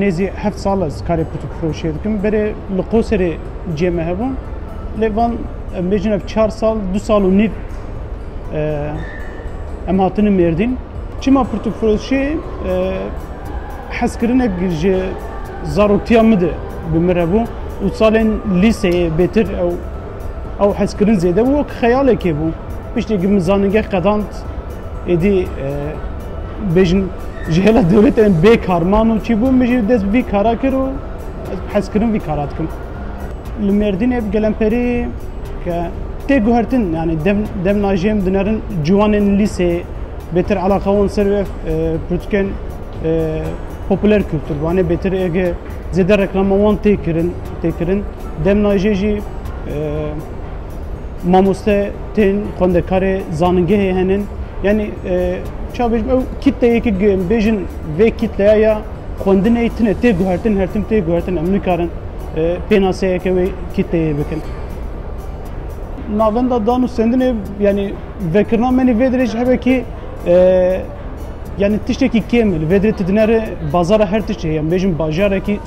Nêzî heft sal ez karê pirtûkfiroşiyê dikim. Berê li Qoserê cihê me hebûn. Lê van em bêjin ev çar sal, du sal û nîv em hatinin Mêrdîn. Çima pirtûkfiroşiyê hezkirinek ji zaroktiya min de bi min re bû û salên lîseyê bêtir ew Ew hezkirin zêde bû wek xeyalekê bû. Piştê ku min zanîngeh qedand êdî e, bêjin ji hêla dewletê em bê kar man û çî bû min jî dest bi vî kara kir û hezkirin vî kara dikim. Li Mêrdînê bi gelemperî ke tê guhertin yani dem dem najê min dinerin ciwanên lîsê bêtir eleqa wan ser ev pirtûkên popüler kültür. Vanê bêtir ege zêde reklama wan tê kirin. tê kirin. Demna jê jî mamoste tên xwendekarê zanîngehê henin. Yanî ça bêjim ew kîteyekî bêjin vê kîtleya ya xwendinê tune tê guhertin her tim tê guhertin em nikarin pênaseyeke wê kîteyê bikin. Navenda dan û sendinê yanî vekirina menî vê dirê ji hebe kî yanî tiştekî kêm e li vê dirê tu dinere bazara her tiştê heye em bêjin bajarekî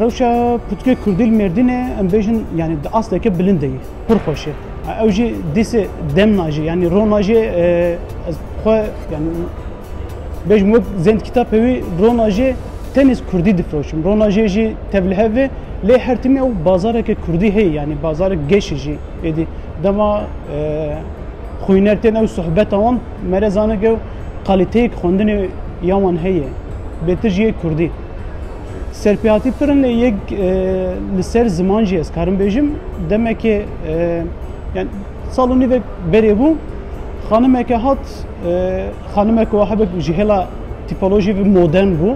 Rewşa pirtûkê kurdî li Mêrdînê em bêjin yanî di asteke bilind de ye. Pir xweş e. Ew jî dîsê dem najê yanî ro najê ez xwe yanî bêjim wek zendkîtapê wî ro najê tenêz kurdî difiroşim. Ro najê jî tev li hev e lê her timî ew bazareke kurdî heye yanî bazarek geşê jî êdî dema xwîner tên ew sohbeta wan mere zanik ew qalîteyek xwendinê ya wan heye bêtir jî yê kurdî. Serpêhatî pirin lê yek li ser ziman jî ez karim bêjim demekê yani sal û nîvek berê bû xanimeke hat xanimeke wa hebek ji hêla tîpolojî ve modern bû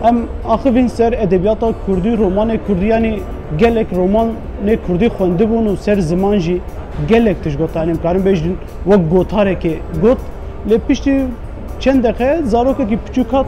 em axivîn ser edebiyata kurdî romanê kurdî yanî gelek romanê kurdî xwendibûn û ser ziman jî gelek tişt gotan em karin bêjin wek gotarekê got lê piştî çend deqe zarokekî piçûk hat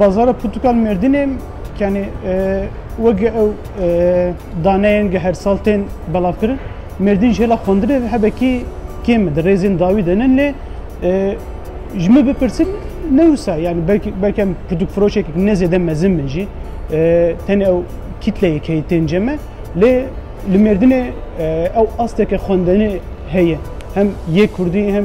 Bazara Pirtûkal Mêrdînê yanî weke ew daneyên ge her sal tên belavkirin, Mêrdîn ji hêla xwendinê ve hebekî kêm e, di rêzên dawî de nin lê ji min bipirsin ne wisa yanî belk em pirtûkfiroşekek ne zêde mezin bin jî tenê ew kîtleyê keyî tên cem e lê li Mêrdînê ew asteke xwendinê heye hem yê Kurdî hem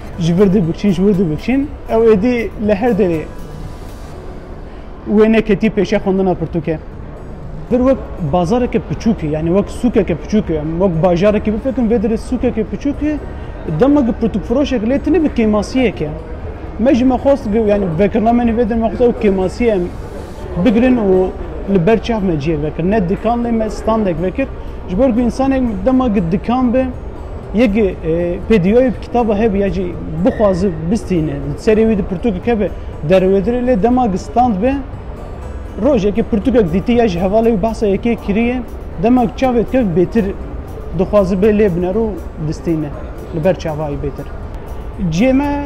Ji vir dibikşîn, ji wir dibikşîn. Ew êdî li her derê wê neketî pêşiya xwendina pirtûke. Vir wek bazareke piçûk e, yanî wek sûkeke piçûk e. Wek bajarekî bifikirin, vê derê sûkeke piçûk e. Dema ku pirtûkfiroşek lê tune bi kêmasiyek e. Me jî me xwest, yanî vekirina me nî vê derê me xwest ew kêmasiye em bigirin û li ber çav me ciyê vekir. Ne dikan lê me standek vekir. Ji ber ku insanek dema ki dikan bi yek e, pêdiyayê bi kitaba hebe ya jî bixwazi bistîne serê wî di pirtûkek hebe derwedirê lê dema ki stand bi rojekê pirtûkek dîtî ya ji hevalê wî behsa yekê kiriye dema ki çavê dikir bêtir dixwazi bê lê binero distîne li ber çavayî bêtir. Ciyê me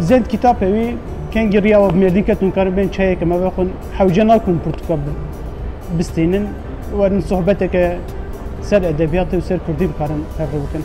Zend kitapê wî kengî riya we bi mêrdîn ketin karin bên çayeke me vexwin hewce nakun pirtûka bistînin werin sohbeteke ser edebiyatê û ser kurdî bikarin hevre bikin.